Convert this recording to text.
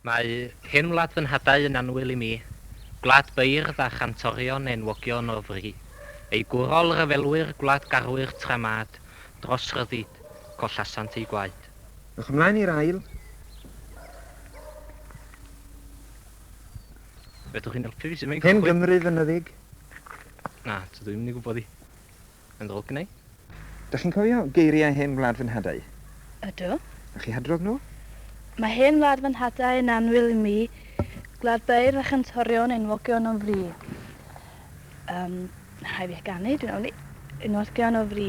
Mae hen wlad fy nhadau yn annwyl i mi, gwlad beirdd a chantorion enwogion o fri, eu gwrol ryfelwyr gwladgarwyr tra mad, dros ryddid, collasant eu gwaed. Ewch ymlaen i'r ail. Fedrwch chi'n helpu fi sut mae'n cychwyn? Hen Gymru fynyddig. Na, tydw i'm yn ei gwybod hi. Yn ddrwg neu? Dach chi'n cofio geiriau hen wlad fy nhadau? Ydw. Dach chi hadrodd nhw? Mae hen wlad fy nhadau yn annwyl i mi, gwlad beirdd a chantorion enwogion o fri. Yym, rhaid fi ganu, dwi'n ofni. Enwogion o fri.